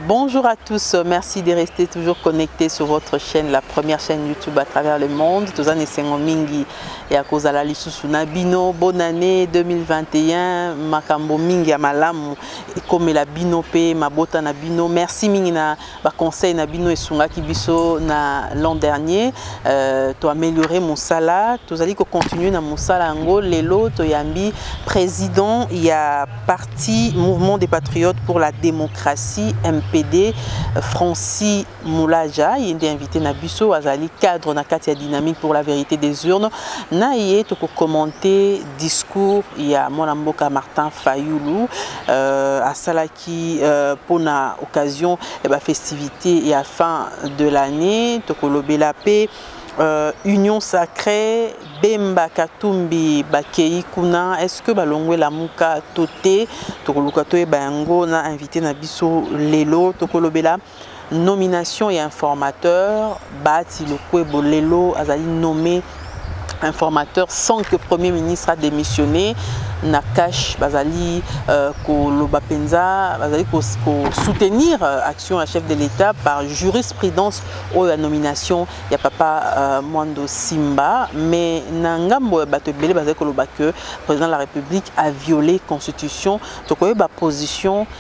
Bonjour à tous, merci de rester toujours connectés sur votre chaîne, la première chaîne YouTube à travers le monde. Tozan esengo mingi ya kozala lisusu na bino. Bonne année 2021, makambo mingi ya malamu ekomela bino pe mabota na bino. Merci mingi na ba conseil na bino esungaki biso na l'an dernier euh, to améliorer mosala tozali ko continuer na mosala yango lelo toyambi président ya parti mouvement des patriotes pour la démocratie mpd francis moulaja ye nde invité na biso azali cadre na kati ya dynamique pour la vérité des urnes na ye tokokommente discours ya mwana mboka martin fayulu euh, asalaki qui euh, pour na occasion eh ben, festivité et à fin de l'année tokolobela pe euh, union sacrée bemba katumbi bakei kuna est ce que balongwe lamuka to te tokoluka toyeba yango na invité na biso lelo tokolobela Nomination ya informateur Bahati Lokwebo lelo azali nommé informateur sans que Premier ministre a démissionné. Nakash Bazali euh, Koloba Penza, Bazali ko, ko soutenir euh, action à chef de l'État par jurisprudence ou la nomination ya papa euh, Mwando Simba mais na ngambo ya bato ebele bazali koloba que président de la République a violé constitution tokoyeba position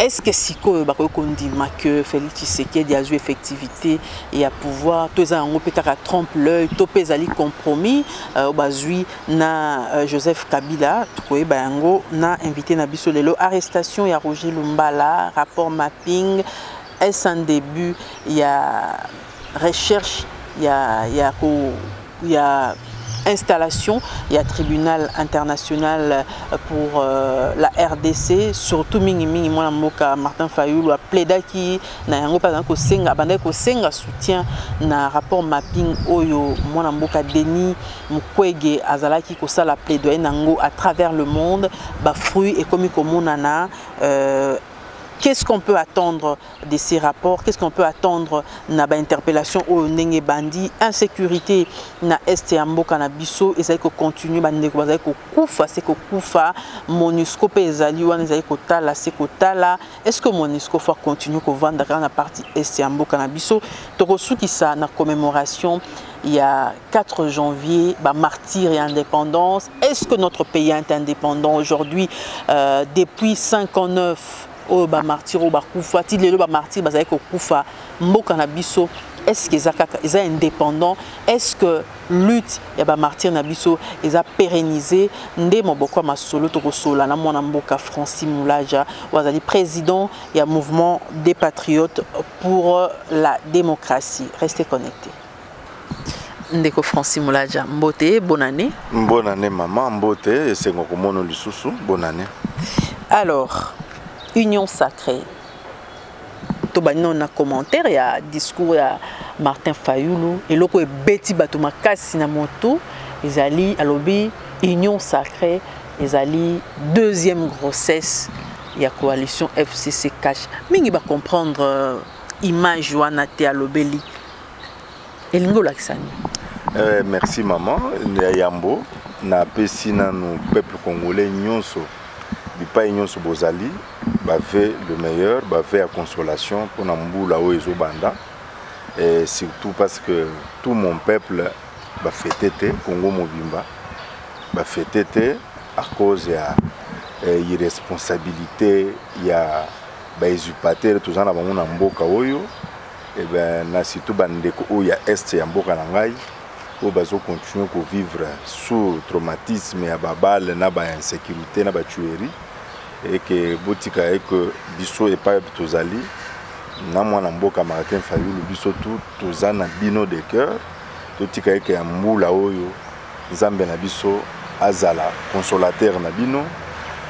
est ce que sikoyo bakoki kondima que félix tshisekedi azwi effectivité ya pouvoir to eza yango mpe kaka trompe l'œil to mpe ezali compromis euh, oyo bazwi na euh, joseph kabila tokoyeba yango na invité na biso lelo arrestation ya roger lumbala rapport mapping est ce un début ya recherche ya, ya, ko, ya installation ya tribunal international pour euh, la rdc surtout mingi mingi mwana mboka martin fayulu apledaki na yango mpe azalaki kosenga abandaki kosenga soutien na rapport mapping oyo mwana mboka denis mukwege azalaki kosala plaidoye na yango à travers le monde bafruit ekomi komonana euh, qu'est-ce qu'on peut attendre de ces rapports qu'est-ce qu'on peut attendre na ba interpellation oyo ndenge bandi insécurité na est ya mboka na biso ezali ko continuer ba ndeko bazali ko kufa se ko kufa monusco pe ezali wana ezali ko tala se ko tala est-ce que monusco faut continuer ko vanda kaka na partie est ya mboka na biso toko sukisa na commémoration il y a 4 janvier, bah, martyr et indépendance. Est-ce que notre pays est indépendant aujourd'hui euh, Depuis 59 oyo ba martyr oyo bakufa ti lelo ba martyr bazali kokufa mboka na biso est ce que eza kaka eza indépendant est ce que lutte ya ba martyr na biso eza pérennisé nde moboko ya masolo tokosola na mwana mboka francis mulaja oyo azali président ya mouvement des patriotes pour la démocratie restez connectés ndeko franci molaja mbote bonne année bonne année mama mbote esengo komono lisusu bonne année alors union sacrée tobandi nano na commentaire ya discours ya martin fayulu eloko ebeti bato makasi na motu ezali alobi union sacrée ezali deuxième grossesse ya coalition fcc cash mingi bacomprendre euh, image wana te alobeli elingi olakisa nini euh, merci maman ya yambo napesi nanu peuple congolais nyonso bipai nyonso bozali bave le meilleur bave ya consolation mpona mbula oyo ezobanda et surtout parce que tout mon peuple bafete te congo mobimba bafete te à cause ya eh, irresponsabilité ya baisurpatere toza na bango na mboka oyo Eh ben, na surtout bandeko oyo ya est ya mboka na ngai oyo bazo continuer kovivre sous traumatisme ya babale na bainsécurité na batuerie eke botika eke biso epai tozali na mwana mboka martin fayulu biso tu toza na bino de cœur totika eke ya mbula oyo nzambe na biso azala consolateur na bino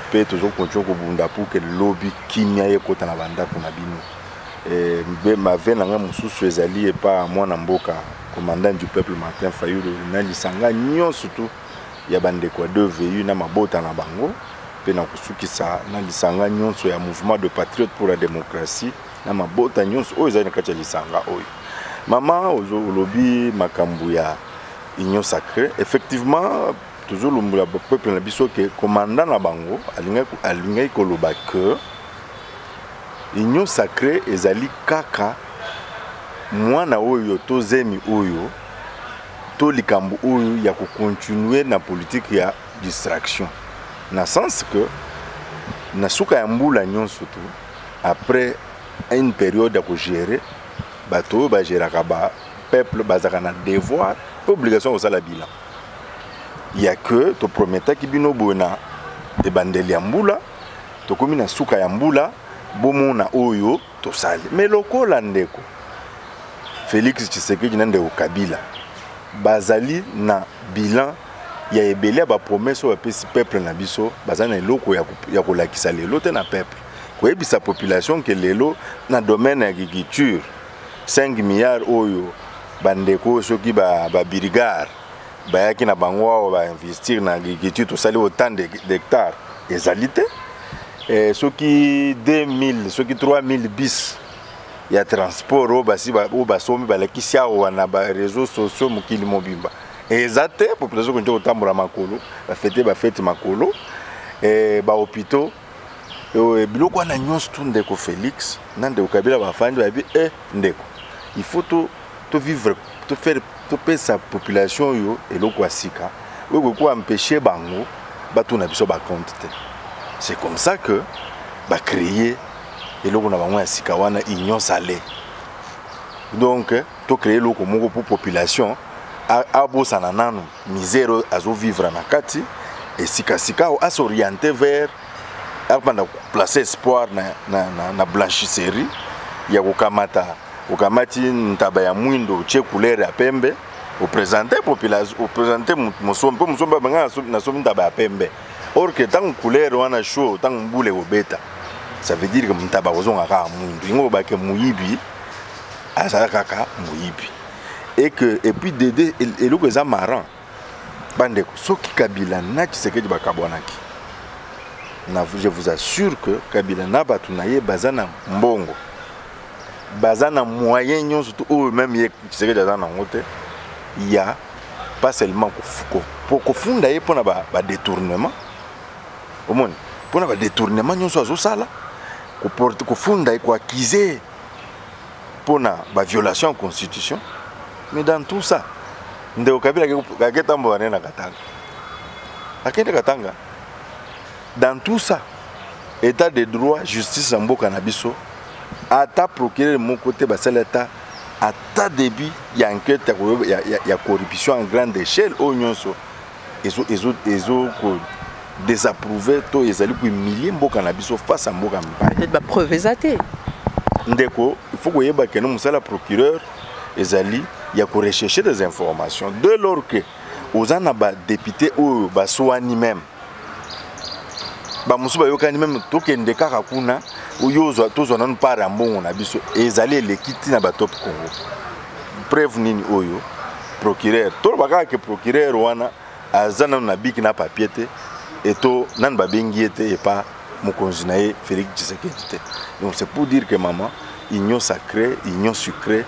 mpe tozokontinue kobunda mpo ke lobi kimia ekota na bandako na bino Eh, mave na ngai mosusu ezali epa mwana mboka commandant du peuple martin fayulu na lisanga nyonso tu ya bandeko ya dvu na mabota na bango mpe na kosukisa na lisanga nyonso ya mouvement de patriote pour la démocratie na mabota nyonso oyo ezali na kati ya lisanga oyo mama olobi makambo ya union sacrée effectivement tozolombola peuple na biso ke commandant na bango alingaki koloba que union sacré ezali kaka mwana oyo to zemi oyo to likambo oyo ya kocontinue na politike ya distraction na sens que na suka ya mbula nyonso tu après une période ya kogere bato oyo bageraka ba peuple bazalaka na devoir mpe obligation ya kosala bilan ya que toprometaki bino boye na ebandeli ya mbula Tokomi na suka ya mbula bomona oyo tosali. Mais lokola ndeko Felix Tshisekedi na ndeko Kabila bazali na bilan ya ebele ya ba promesse oyo bapesi peuple na biso bazali na eloko ya kolakisa lelo te na peuple koyebisa population ke lelo na domaine ya agriculture 5 milliards oyo bandeko soki babirigare ba bayaki na bango awa ba investir na agriculture tosali autant d'hectare ezali te eh, soki 2000 soki 3000 bis ya transport oyo basi oyo basombi balakisi awa na bareseau sociaux mokili mobimba eza te population konti kotambola makolo bafete bafete makolo eh, bahopitaux euh, biloko wana nyonso tu ndeko félix na ndeko kabila bafandi bayebi e ndeko il faut to, to vivre to faire topesa population oyo eloko ya sika oyo ekoki koempeshe bango batuna biso bacompte te c'est comme ça que bacreye eloko na bango ya sika wana union sale donc tocreye eloko moko mpo population abosana nanu misère oyo azovivre na kati esika sikawa asoriente vers abanda koplace espoir na, na, na, na blanchisserie ya kokamata okamati ntaba ya mwindo otie couleur ya pembe opresente population opresente mosombi mpo mosombi abanga nasomi ntaba ya pembe or ke ntango couleur wana show ntango mbula ekobeta ça veut dire ke ntaba kozonga kaka mwindu yango obake moyibi azala kaka moyibi et que et puis dede eloko eza marrant bandeko soki kabila na tshisekedi bakabwanaki je vous assure que kabila na bato na ye baza na mbongo baza na moyen nyonso to oyo meme ye tshisekedi aza nango te ya pas seulement kofunda ye mpona badetournement omoni mpona badetournement nyonso azosala kofunda ye koakize mpo na baviolation ya constitution mais dans tout ça ndeko kabila aketambola nde na katanga akende katanga dans tout ça état de droit justice ya mboka na biso ata procureur moko te basali ata ata début ya enquête ya, ya, ya, ya corruption en grande échelle oyo nyonso ezo ezo ezo ko désapprouver to ezali ko humilier mboka na biso face à mboka mibale peut-être ba preuve ezate ndeko il faut koyeba que no musala procureur ezali ya ko rechercher des informations dès lors que oza na ba député oyo baswani même bamosusu bayokani meme tokende kaka kuna oyo tozwa nanu part ya mbongo na biso ezali eleki ntina batop congo preuve nini oyo procureur toloba kaka ke procureur wana aza nanu na biki na papier te eto nanu babengi ye te epa mokonzi na ye félix tshisekedi te donc c'est pour dire que maman union sacrée union sucrée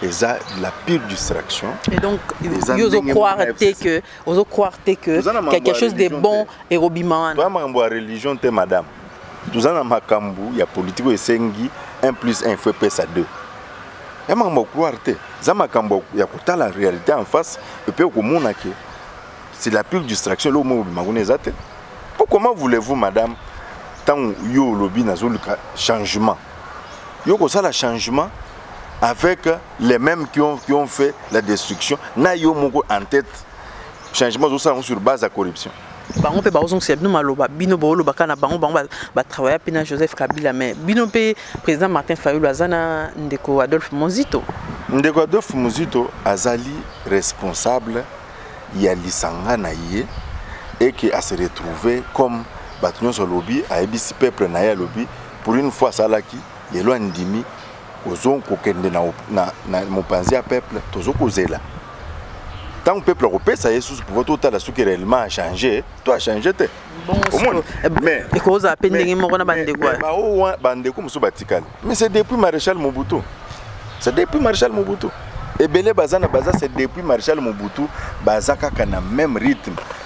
eza la pire distraction et donc yo ozo croire te que ozo croire te que quelque chose de bon ekobima wana toya makambo ya religion te madame toza na makambo ya politiki oyo esengi 1 plus 1 faut epesa 2 ya makambo ya couloir te eza makambo ya kotala réalité en face epe okomona ke c'est la pure distraction eloko moko obima kuna eza te po comment voulez-vous madame ntango yo olobi nazoluka changement yo kosala changement avec les mêmes qui ont, qui ont fait la destruction na yo moko en tête changement ozosala yango sur base ya corruption bango mpe bakozongisela bino maloba bino booloba kaka na bango bango batravailla mpe na joseph kabila mais bino mpe président martin fayulu aza na ndeko adolphe mozito ndeko adolphe mozito azali responsable ya lisanga na ye eke ase retrouve comme bato nyonso alobi ayebisi peuple na ye alobi pour une fois asalaki lelo andimi ozo kokende na, na, na mopanzi ya peuple tozo kozela ntango peuple akopesa ye susu pouvoir totala soki réellement achange to achange te ekozala mpe ndenge moko na bandeko bandeko mosusu batikali mais c'est depuis maréchal mobutu c'est depuis maréchal mobutu ebele baza na baza c'est depuis maréchal mobutu baza kaka na même rythme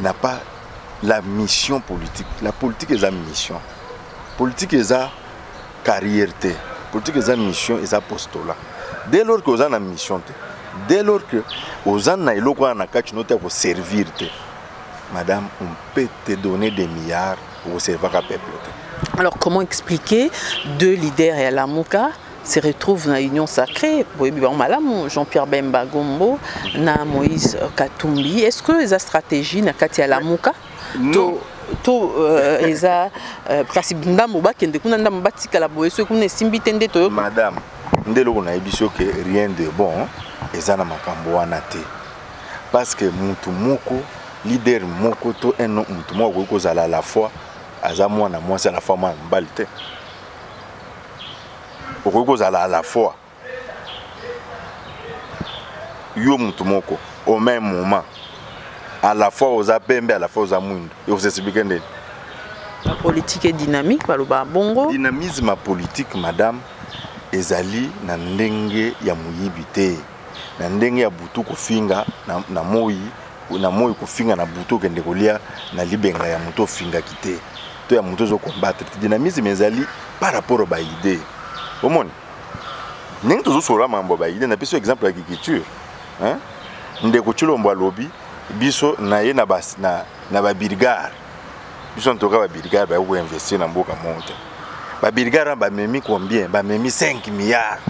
n'a pas la mission politique la politique eza mission politique eza carrière te politique eza mission eza postola dès lors que oza na mission te dès lors que oza na eloko wana na kati no te ya koservir te madame on peut te donner des milliards okoservaka peuple te alors comment expliquer deux leaders ya lamuka se retrouve na union sacrée boyebi bango malamu Jean-Pierre Bemba Gombo na Moïse Katumbi est-ce que eza stratégie na kati ya Lamuka to to euh, eza euh, kasi ndambo bakende kuna ndambo batikala boye soki kuna esimbi te nde toyoka madame nde eloko nayebi so ke rien de bon eza na makambo wana te parce que mutu moko leader moko to un mutu moko akoki kozala à la fois aza mwana mwasi à la fois mwana mobali te okoki kozala à la fois yo motu moko au même moment à la fois oza pembe à la fois oza mwindu ekosexplike ndeni la politique est dynamique baloba bongo dynamisme ya politique madame ezali na ndenge ya moyibi te na ndenge ya butu kofinga na, na moi na moi kofinga na butu okende kolia na libenga ya moto ofingaki te to ya moto ozokombatre te dynamisme ezali par rapport ya baide omoni ndenge tozosolola mambo ya baide napesi exemple ya kikiture ndeko cilombo alobi biso na ye na, na, na babirgare biso en tout cas ba brigade ba ko investir na mboka monte ba brigade ba memi combien ba memi 5 milliards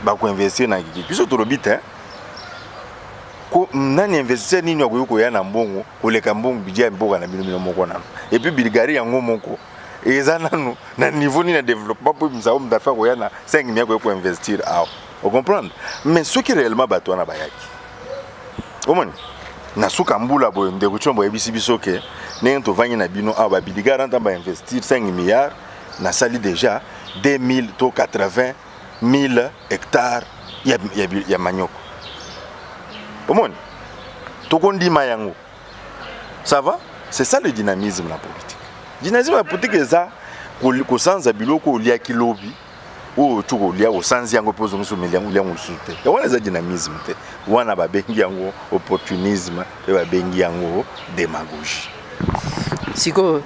ba ko investir na kiki biso to lobite hein ko nani investisseur nini akoki koya na mbongo koleka mbongo budget ya mboka na bino bino moko nano et puis bulgarie yango moko eza nanu na niveau nini ya développement mpo mizao moto afa koya na 5 milliard koya koinvestir awa ocomprendre mais soki réellement bato wana bayaki omoni na suka mbula boye ndeko tshombo ayebisi biso ke ndenge tovangi na bino awa babiligara ntango bainvestir 5 milliard nasali déjà 2000 to 80 000 hectare ya, ya, ya manioko omoni tokondima yango ça va c'est ça le dynamisme na politique dynamisme ya politique eza kosanza biloko oliaki lobi oyo to kolia osanzi yango mpe ozongisi omeli yango olia yango mosusu te yango wana eza dynamisme te wana babengi yango opportunisme mpe babengi yango demagogie sikoyo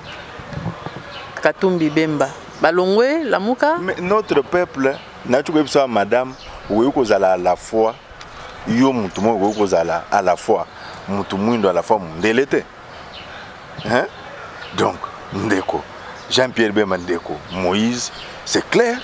katumbi bemba balongwe lamuka notre peuple nayoki koyebisa ya madame okoki kozala à la fois yo motu moko okoki kozala à la fois motu mwindo à la fois mondele te hein? donc ndeko jean pierre bemba ndeko moïse c'est clair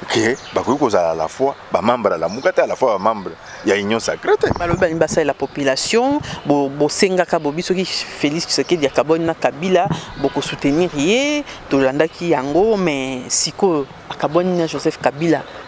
ke bakoki kozala à la fois bamembre ya lamuka te à la fois bamembre ya union sacré te balobi balingi basalela population bosengaka bo bobi soki félix tshisekedi akaboni na kabila bokosoutenir ye tolandaki yango mais sikoyo akaboni na joseph kabila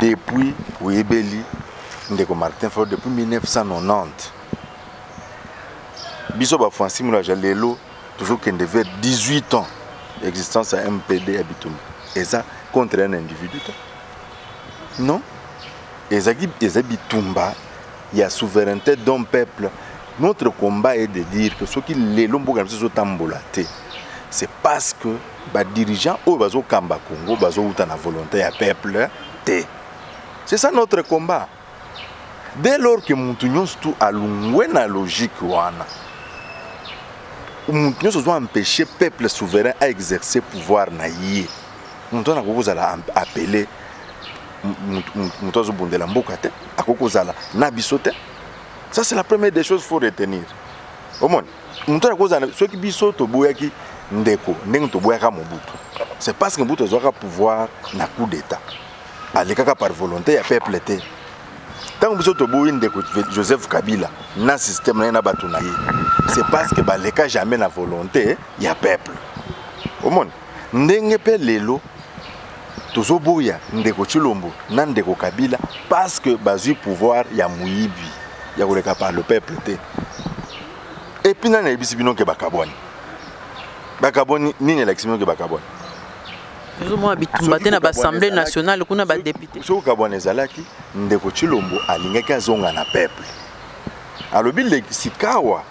depuis oyebeli ndeko martin fo depuis 1990 biso bafansi molaja lelo tozokende vers 18 ans existence ya mpd ya bitumba eza contre un individu te non ezaki eza bitumba ya souveraineté d'un peuple notre combat est de dire que soki lelo mboka na biso ezotambola te c'est parce que ba dirigeants oyo bazo kamba Congo bazo uta na volonté ya peuple te c'est ça notre combat dès lors que mutu nyonso tu alungwe na logique wana mutu nyonso ozo empêcher peuple souverain a exercer pouvoir na ye mutu wana akoki kozala appelé mutu azobundela mboka te akoki kozala na biso te ça c'est la première des choses faut retenir omoni moto wana kozala soki biso toboyaki ndeko ndenge toboyaka mobutu c'est parce que mobutu azwaka pouvoir na coup d'état alekaka par volonté ya peuple te ntango biso toboyi ndeko joseph kabila na système na ye na bato na ye c'est parce que baleka jamais na volonté ya peuple omoni ndenge mpe lelo tozoboya ndeko Tshilombo na ndeko Kabila parce que bazui pouvoir ya muyibi ya koleka par le peuple te et puis nani ayebisi bino ke bakabwani bakabwani nini elakisi bino ke bakabwani ezomona bitumba te na baassemblée nationale kuna badepute soki kabwana ezalaki ndeko Tshilombo alingaki azonga na peuple alobi sikawa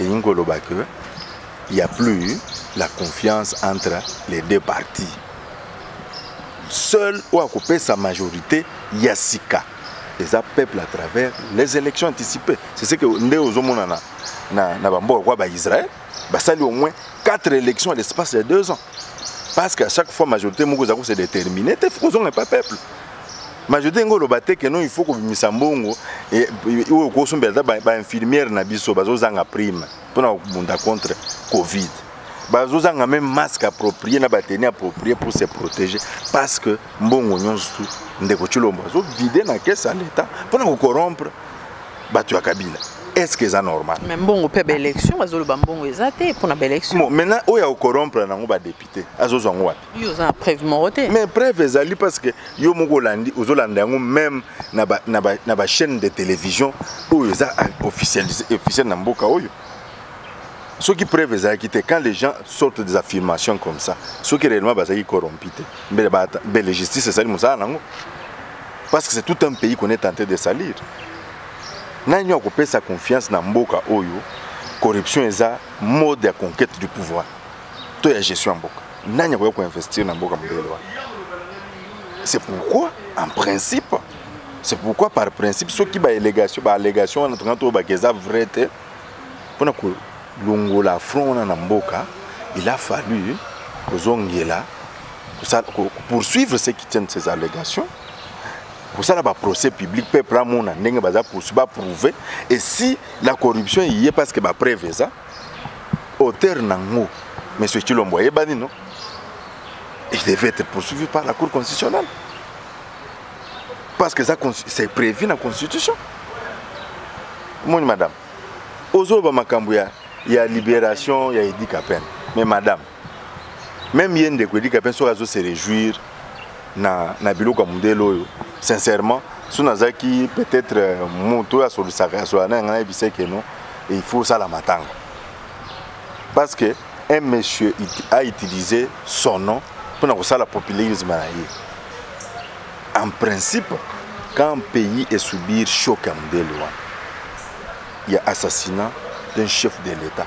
elingi koloba que il y a plus la confiance entre les deux parties seul oyo akopesa majorité ya sika eza peuple à travers les élections anticipées c'est ce que nde ozomonana na, na bamboka kwa baisrael basali au moins 4 élections à l'espace ya 2 ans parce qu'à chaque fois majorité moko eza kose détermine te ozonga epa peuple majorité ngo oloba te keno il faut kobimisa mbongo eh, oyo okosombela ata bainfirmière na biso bazozanga prime mpona kobunda contre covid bazozanga meme masque approprié na bateni approprié pour se protéger parce que mbongo nyonso tu ndeko cilombo azovide na kese ya leta mpona kokorompre bato ya kabila est ce que eza normal mais mbongo mpe baélection bazoloba mbongo eza te mpona baélection maintenant oyo akokorompre nango badepute azozwa yango wapi yo oza na preuve moko te mais preuve ezali parce que yo moko olandi ozolanda yango même na ba, na ba, na ba chaîne de télévision oyo eza officiel officiel na mboka oyo soki preuve ezalaki te quand les gens sortent des affirmations comme ça soki réellement bazalaki corrompi te mbele mbele justice esali mosala nango parce que c'est tout un pays qu'on est tenté de salir nani akopesa confiance na mboka oyo corruption eza mode ya conquête du pouvoir to ya gestion ya mboka nani akoya koinvestir na mboka mobele wana c'est pourquoi en principe c'est pourquoi par principe soki baalégation baalégation wana tonga toyebaka eza vrai te mpona kolongola front wana na mboka il a fallu kozongela poursuivre ceux qui tiennent ces allégations kosala baprocès public peuple amona ndenge baza poursuivi baprouve et si la corruption eye parce que bapreuve eza auteur nango monsieur Chilombo ayebani non il devait être poursuivi par la cour constitutionnelle parce que ça c'est prévu dans la constitution mon madame ozoba makambo ya ya libération ya Eddie Kapend mais madame meme ye ndeko edika mpe soki azo se réjouir na, na biloko ya mondele oyo sincèrement so nazalaki peut-être euh, moto oyo asolisaka asola na yanga nayebisa eke no il faut osala matanga parce que un monsieur a utilisé son nom mpo na kosala populisme na ye en principe quand pays est subir choc ya mondele wana ya assassinat d'un chef de l'état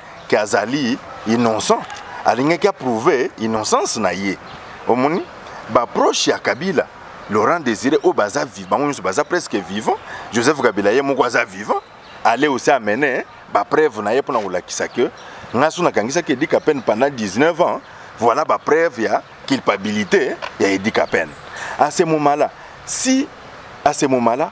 ke azali innocent alingaki approuve innocence na ye omoni baproche ya kabila laurent désiré oyo baza bango nyonso baza presque vivant joseph kabila ye moko aza vivant ale osi amene bapreuve na ye mpona kolakisa ke ngai so nakangisaki edika pene pendant 19 ans voilà bapreuve ya culpabilité ya edika pene à ce moment là si à ce moment là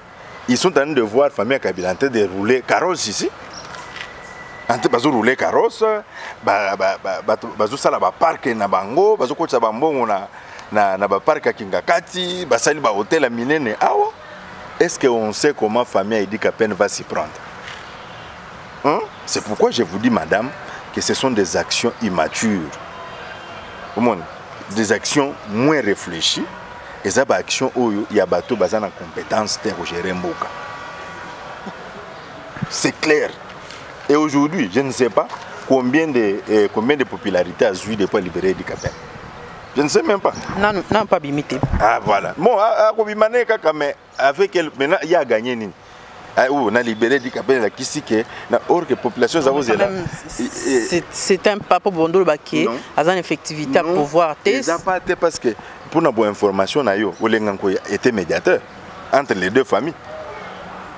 Ils sont en train de voir famille Kabila en train de rouler carrosse ici. En train de rouler carrosse, ba ba ba ba ba zo sala ba parc na bango, ba zo kotsa ba mbongo na na na ba parc ya Kingakati, ba sali ba hôtel minene awa. Est-ce que on sait comment famille Idi Kapene va s'y prendre? Hein? C'est pourquoi je vous dis madame que ce sont des actions immatures. Au monde, des actions moins réfléchies eza ba action oyo ya bato baza na compétence te ya kogere mboka c'est clair et aujourd'hui je ne sais pas combien de, eh, combien de popularité azwi depuis alibere dikapel je ne sais même pas nanu nanu mpe abimi te ah voilà bon akobima ne kaka mais Avec elle, maintenant, il y a gagné nini ah, ou na libéré dit qu'appelle la kisike na or que population za ozela c'est un papa bondolo baké azan effectivité à pouvoir te ça pas te parce que pour na bonne information na yo olenga ko était médiateur entre les deux familles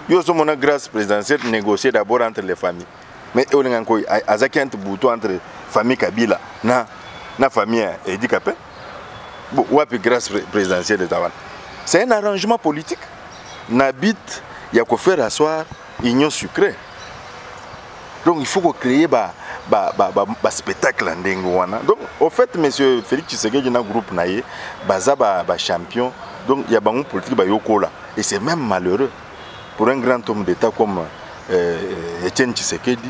yo so mona grâce présidentielle négocier d'abord entre les familles mais olenga ko azaki entre bouton entre famille Kabila na na famille Edikape wapi grâce présidentielle eza wana c'est un arrangement politique na but ya kofaire asseoir union sucrée donc il faut kocréer ba, ba, ba, ba, ba spectacle ya ndenge wana donc au fait monsieur félix tshisekedi na groupe na ye baza bachampion ba, ba donc ya bango politique bayokola et c'est même malheureux pour un grand homme d'état comme euh, etienne tshisekedi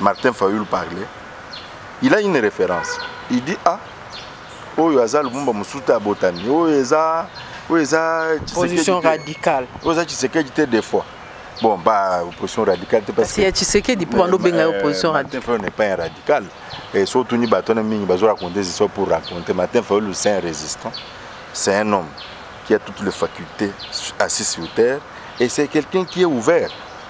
Martin Fayulu parlait, il a une référence. Il dit ah oyo aza Lumumba musuta ya botami, oyo eza oyo eza position radicale. Oyo eza Tshisekedi te des fois. Bon ba opposition radicale te parce que ya Tshisekedi po bando benga euh, opposition radicale. Martin Fayulu n'est pas un radical. Et surtout ni bato na mingi bazo raconter des histoires pour raconter Martin Fayulu c'est un résistant. C'est un homme qui a toutes les facultés assis sur terre et c'est quelqu'un qui est ouvert.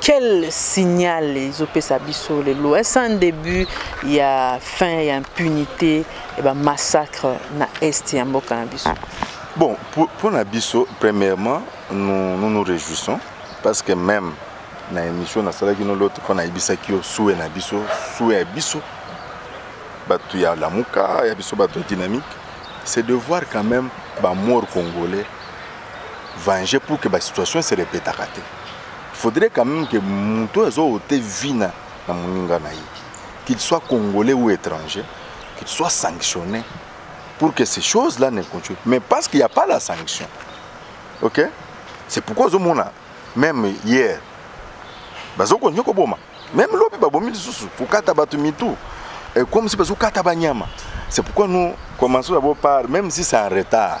Quel signal ezopesa biso lelo est un début ya fin ya impunité et ba massacre na est ya mboka na biso bon pour, pour na biso premièrement nous, nous nous réjouissons parce que même na émission nasalaki no lote mpo nayebisaki yo sue na biso sue ya biso bato ya lamuka ya biso bato ya dynamique c'est de voir quand même bamort congolais venger pour que basituation se répétaka te faudrait quand même que moto oyo azowote vina na moninga na ye qu'il soit congolais ou étranger qu'il soit sanctionné pour que ces choses là ne continuent mais parce qu'il n'y a pas la sanction ok c'est pourquoi ozomona même hier bazokontinue koboma même lobi babomi lisusu kokata bato mitu comme si bazokata banyama c'est pourquoi nous commençons d'abord par même si c'est en retard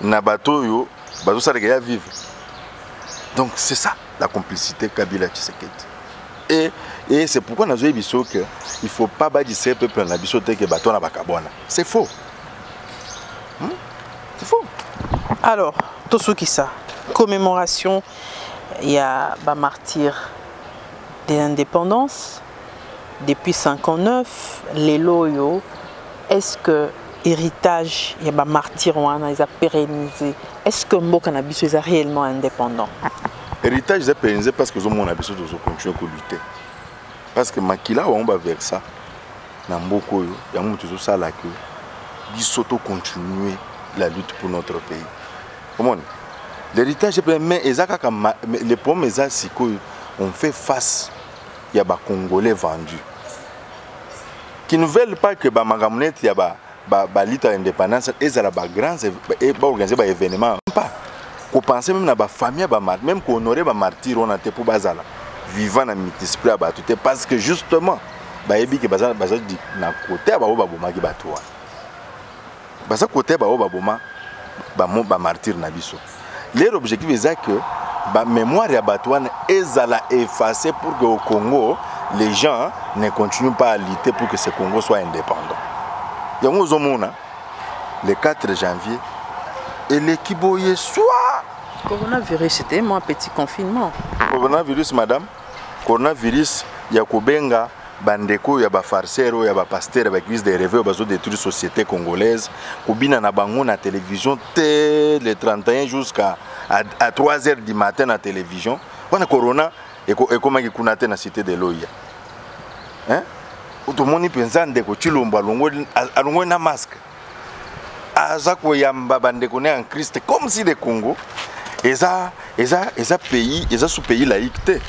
na bato oyo bazosalaka ya vive donc c'est ça la complicité kabila tshisekedi et, et c'est pourquoi nazoyebi biso que il faut pas badise peuple na biso te ke bato wana bakabwana c'est faux hmm? c'est faux alors tosukisa commémoration ya bamartyre de l'indépendance depuis 59 lelo oyo est-ce que héritage ya ba martyrs wana eza pérennisé est-ce que mboka na biso eza réellement indépendant héritage eza pérennisé parce que ozomona biso tozo continuer ko lutter parce que makila bango ba versa na mboka oyo yango moto ezosala que biso to continuer la lutte pour notre pays omoni l'héritage mais eza kaka le problème eza sikoyo on fait face ya ba congolais vendu qui ne veulent pas que ba makambo neti ya ba ba, ba lito ya indépendance ezala ba grands e baorganize ba événement pas kopense meme na bafamille ya bamart meme kohonore bamartire wana te mpo bazala vivant na mitisple ya bato te parce que justement bayebi ke baza na kote ya bango babomaki bato wana baza kote baoyo baboma bamartire na biso leur objectif eza que bamémoire ya bato wana ezala efface pour que au congo les gens ne continuent pas à lutter pour que ce congo soit indépendant yango ozomona le 4 janvier eleki boye swa coronavirus ete mwa petit confinement coronavirus madame coronavirus ya kobenga bandeko oyo ya bafarisere oyo ya bapastere ya baeglise de reve oyo bazodétruire société congolaise kobina na bango na télévision te le 31 jusqu'à à 3 heures du matin na télévision wana corona ekomaki kuna te na cité de loya tomoni mpenza ndeko cilombo alongoli na masque aza koyamba bandeko na ya christ comme si le congo eza, eza, eza pays eza sous pays laïque te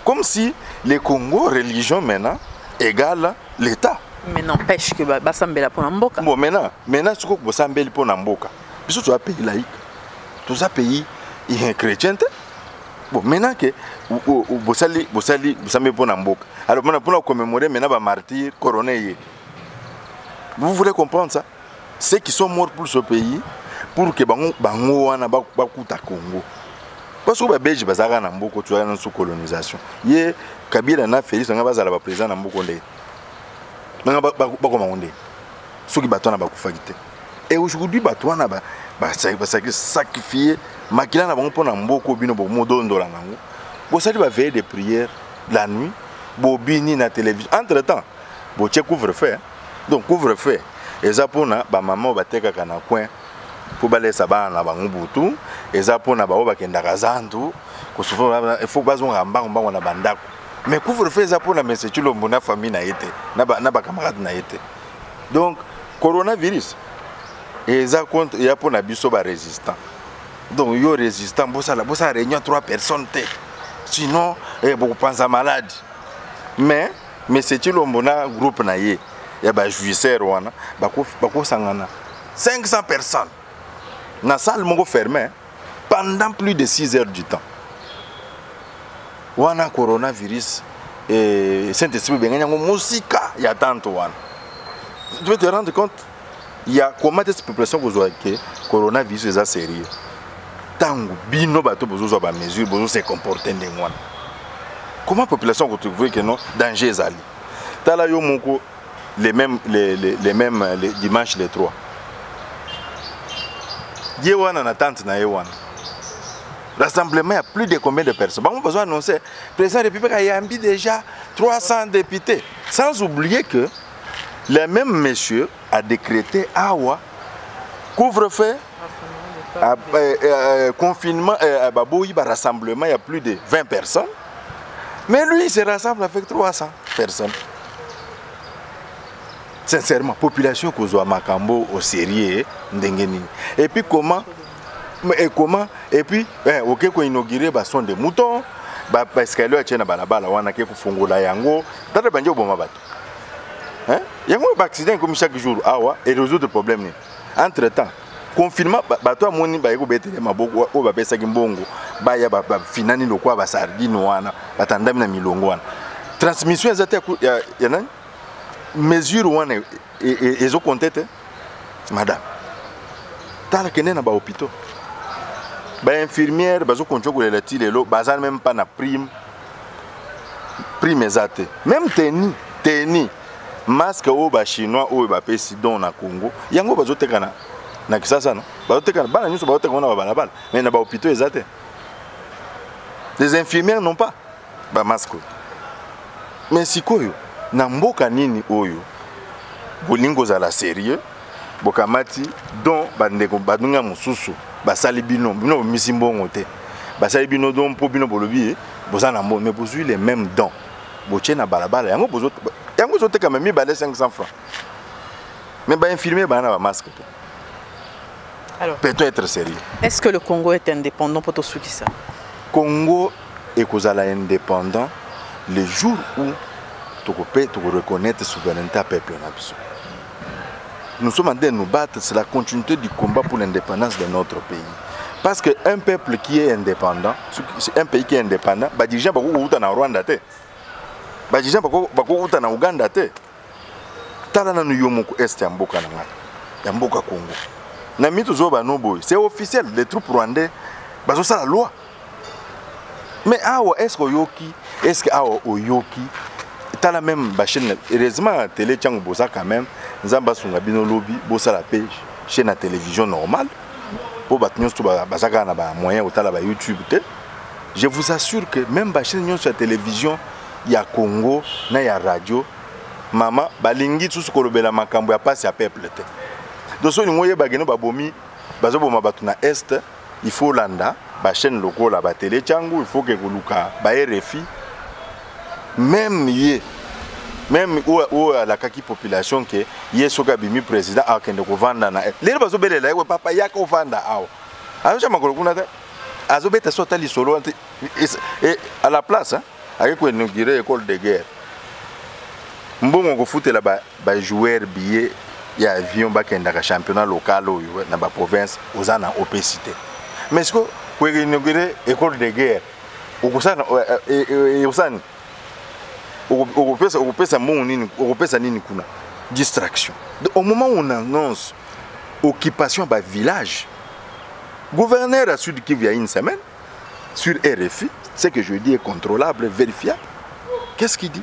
comme si le congo religion maintenant égale l'état mais n'empêche que basambela mpo na mboka bon maintenant maintenant sikoyo bosambeli mpo na mboka biso toza pays laïque toza pays chrétien te bon maintenant que bosali bosali bosambeli mpo na mboka alors mpona mpona commémore maintenant bamartyre corone ye vous voulez comprendre ça ceux qui sont morts pour ce pays pour que bango bango wana bakuta congo parce que babelge bazalaka na mboko toyaka na sous colonisation ye kabila na félix nanga bazala baprésident na mboko ndenge nanga bakoma ngo ndenge soki bato wana bakufaki te et aujourd'hui bato wana basacrifie makila na bango mpo na mboko bino bomodondola nango bosali baveye de prière la nuit bobini na télévision entre temps botie couvre feu donc couvre feu eza mpona bamama oyo batekaka na coin mpo balesa bana na bango butu eza mpona baoyo bakendaka zandu kosufa ifo bazongaka mbango mbango na bandako mais couvre feu eza mpona mese cilombo na famille na ye te na bacamarade na ye te donc coronavirus eza contre eya mpona biso barésistant donc yo résistant bosala bosala réunion 3 personnes te sinon eh, bokopanza malade mais mais c'est Chilombo na groupe na ye ya ba jouisseurs wana bakosangana 500 personnes na salle moko fermé pendant plus de 6 heures du temps wana coronavirus eh, saint esprit obengani yango mosika ya tanto wana tu peux te rendre compte ya comment est-ce population kozwa ke coronavirus eza sérieux ntango bino bato bozozwa bamesure bozo se comporte ndenge wana comment population kotrouve ke non danger ezali tala yo moko les mêmes, les, les, les mêmes les dimanche les trois ye wana na tante na ye wana rassemblement ya plus de combien de personnes bango bazo annonce président république ayambi déjà 300 députés sans oublier que Le même monsieur a décrété awa couvre-feu ah, euh, euh, confinement euh, baboyi ba rassemblement ya plus de 20 personnes mais lui il se rassemble avec 300 personnes sincèrement population kozwa makambo au sérieux eh, ndenge nini et puis comment et comment et puis eh, oke koinaugure bason de mouton baescalier atie na balabala wana ake kofungola yango tata bandi oboma bato hein yango ba accident comme chaque jour awa et résoudre problème ni entre temps confinement bato amoni baye kobetele maboko oyo bapesaki mbongo baya bafinani lokola basardine wana batandami na milongo wana transmission eza te ya nani mesure wana e, e, e, ezokonte te madame tala kende na bahôpitaux bainfirmière bazokontinue kolela ti lelo baza meme mpa na prime prime eza te meme teni teni masque oyo bachinois oyo bapesi don na congo yango bazoteka na, na kisasa no bazoteka bana nyonso bazoteka na babalabala mai na bahopitau eza te les infirmières non pas bamasque oyo mais sikoyo na mboka nini oyo bolingi kozala sérieux bokamati don bandeko baninga mosusu basali bino bino bomisi mbongo te basali bino don mpo bino bolobi ye eh, boza na mbongo mais bozwi le même don botie na balabala yango yango ezotekama mibale 500 francs mais bainfirmier baa na bamasque te Alors, peut-on être sérieux Est-ce que le Congo est indépendant pour tout ce qui ça Congo est indépendant le jour où tu peux reconnaître la souveraineté à peuple. Nous sommes en train de nous battre, c'est la continuité du combat pour l'indépendance de notre pays. Parce qu'un peuple qui est indépendant, c'est un pays qui est indépendant, bah déjà bah vous en Rwanda te, bah déjà bah vous en Ouganda te. Tala na nuyomoko est ya mboka na ngai, ya mboka Congo. Na mitu zoba no boy, c'est officiel, les troupes rwandais, bah ça la loi. mais awa est ce que oyoki est ce que awa oyoki tala même bachaine heureusement na tele ntango boza quand même nzambe asunga bino lobi bosala mpe chaine ya télévision normale mpo bato nyonso baza kaka na bamoyen kotala bayoutube te je vous assure que même bachaine nyonso ya télévision ya congo na ya radio mama balingi susu kolobela makambo ya mpasi ya peuple te donc so olingi oyebakeno babomi bazoboma bato na est il faut landa ba chaîne lokola ba tele changu il faut ke koluka ba RFI même ye même oyo oyo alakaki population ke ye soki abimi président akende kovanda na lelo bazobelela ye papa yaka ovanda awa azosha makolo kuna te azobeta so ata lisolo wana te à la place ayei koinaugure école de guerre mbongo okofutela ba joueur billet ya avion bakendaka championnat local oyo na ba province oza na opesite mais siko koinaugure école de guerre okosana ekosani okopesa okopesa mbongo nini okopesa nini kuna distraction Donc, au moment où on annonce occupation ba village gouverneur ya sud kivu ya une semaine sur rfi ce que je dis est contrôlable vérifiable qu'est ce qu'il dit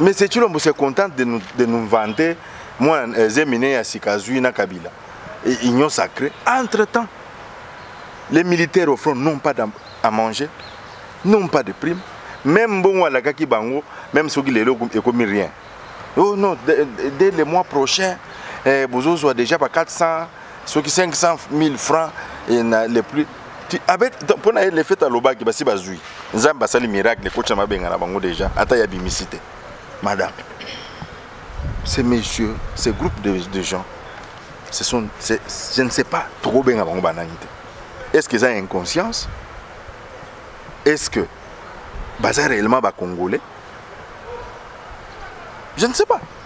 mais c'est chilombo se contente de nous, de nous vanter mwana euh, zemine ya sika azwi na kabila Et union sacrée entre temps les militaires au front n'ont pas à manger n'ont pas de prime même mbongo alakaki bango même soki lelo ekomi rien oh non dès, dès le mois prochain eh, bozozwa déjà ba 400 soki 500 000 francs et na, le plus avec mpo na ye le fait alobaki basi bazwi nzambe asali miracle ekoti na mabenga na bango déjà ata ya bimisi te madame ces messieurs ces groupes de, de gens ce sont je ne sais pas tokobenga bango banani te est ce que eza inconscience est ce que baza réellement bacongolais je ne sais pas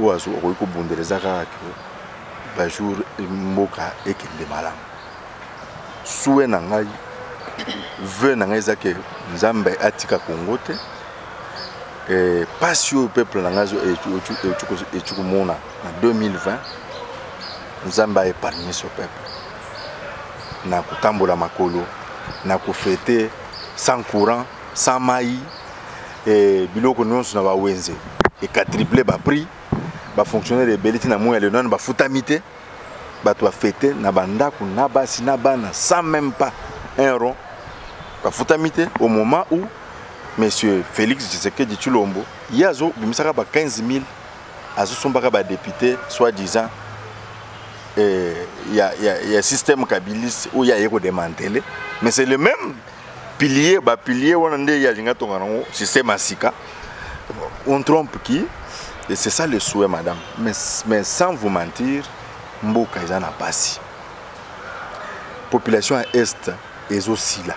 oyo azo okoki kobundela eza kaka ke bajour mboka ekende malamu sue na ngai veu na ngai eza ke nzambe atika kongo te mpasi oyo peuple na ngai eti komona na 2020 nzambe aepargne so peuple na kotambola makolo na kofete sans courant sans mai eh, biloko nyonso na bawenze ekatriple baprix bafonctionnaire ebele ti na moi ya lelo nano bafutami te bato bafete na bandako na basi na bana sans même pas un rond bafutami te au moment où monsieur félix tshisekedi tshilombo ye azobimisaka ba 15 000 azosombaka badepute soit disant eh, ya, ya, ya système kabiliste oyo aye kodemantele mais c'est le même pilier ba pilier wana nde ya linga tonga nango système ya sika on trompe qui et c'est ça le souhait madame mais, mais sans vous mentir mboka eza na pasi population ya est ezosila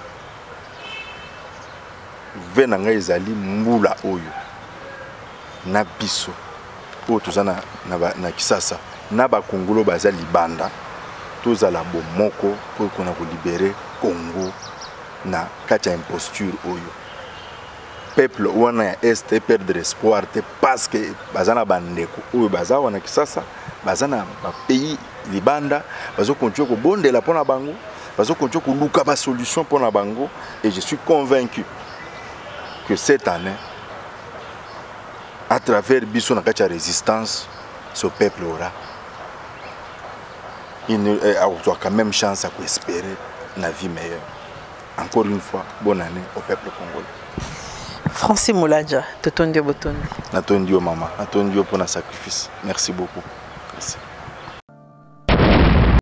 ve na ngai ezali mbula oyo na biso oyo toza na, na, na kisasa na bakongolo baza libanda tozala bomoko mpo ekona kolibere congo na kati ya imposture oyo peuple wana ya est eperdre espoir te parce que baza na bandeko oyo baza wana kisasa baza na bapays libanda bazokontinue kobondela mpo na bango bazokontinue koluka basolution mpo na bango et je suis convaincu que cette année à travers biso na kati ya résistance ce peuple aura eh, akozwa quand même chance ya koespérer na vie meilleure encore une fois bonne année au peuple congolais francis moladja totondi yo botondi natondi yo mama natondi yo mpo na sacrifice merci beaucoup merci.